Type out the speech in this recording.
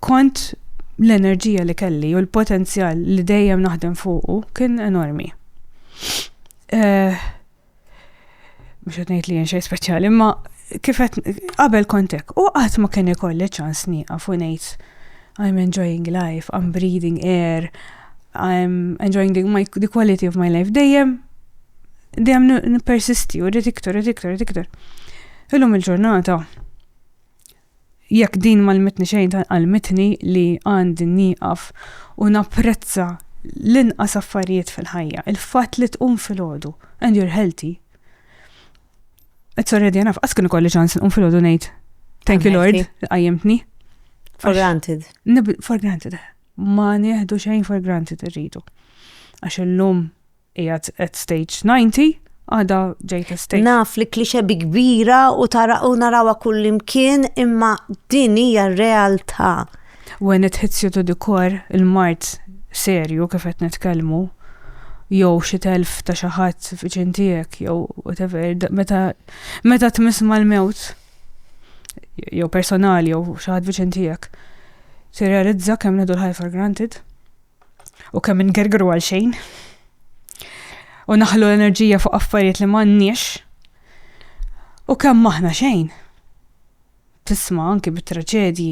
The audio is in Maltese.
kont l-enerġija li kelli u l-potenzjal li dejjem naħdem fuqu kien enormi. Eh, mux għetnejt li jenxej speċjali, ma kifet qabel kontek u għat ma kien ikolli ċans niqaf u nejt I'm enjoying life, I'm breathing air, I'm enjoying the, my, the quality of my life. Dejjem, dejjem n-persisti u rrit iktar, rrit iktar, rrit iktar. Illum il-ġurnata, Jekk din m'għallmitni xejn dan għallmitni li għandi nieqaf u napprezza l-inqas affarijiet fil-ħajja, il-fatt li tqum filgħodu and you're healthy. It's already enough. Qas kien ikolli ċans nqum filgħodu ngħid thank you Lord, qajjimtni. For granted. For granted. Ma nieħdu xejn for granted irridu. Għax illum Qiegħed at stage 90, għada ġejt at stage. Naf li klixe bi kbira u tara u narawa kullimkien imma din hija r-realtà. When it hits you to the core, il-mart serju kif qed nitkellmu, jew xi telf ta' xi ħadd viċin tiegħek jew whatever, meta meta tmiss mal-mewt jew personali jew xi ħadd viċin tiegħek, tirrealizza kemm neħdu l-ħajja for granted. u kemm ingergru għal xejn u naħlu l-enerġija fuq affarijiet li m'għandniex u kemm aħna xejn. Tisma' anki bit-traġedji.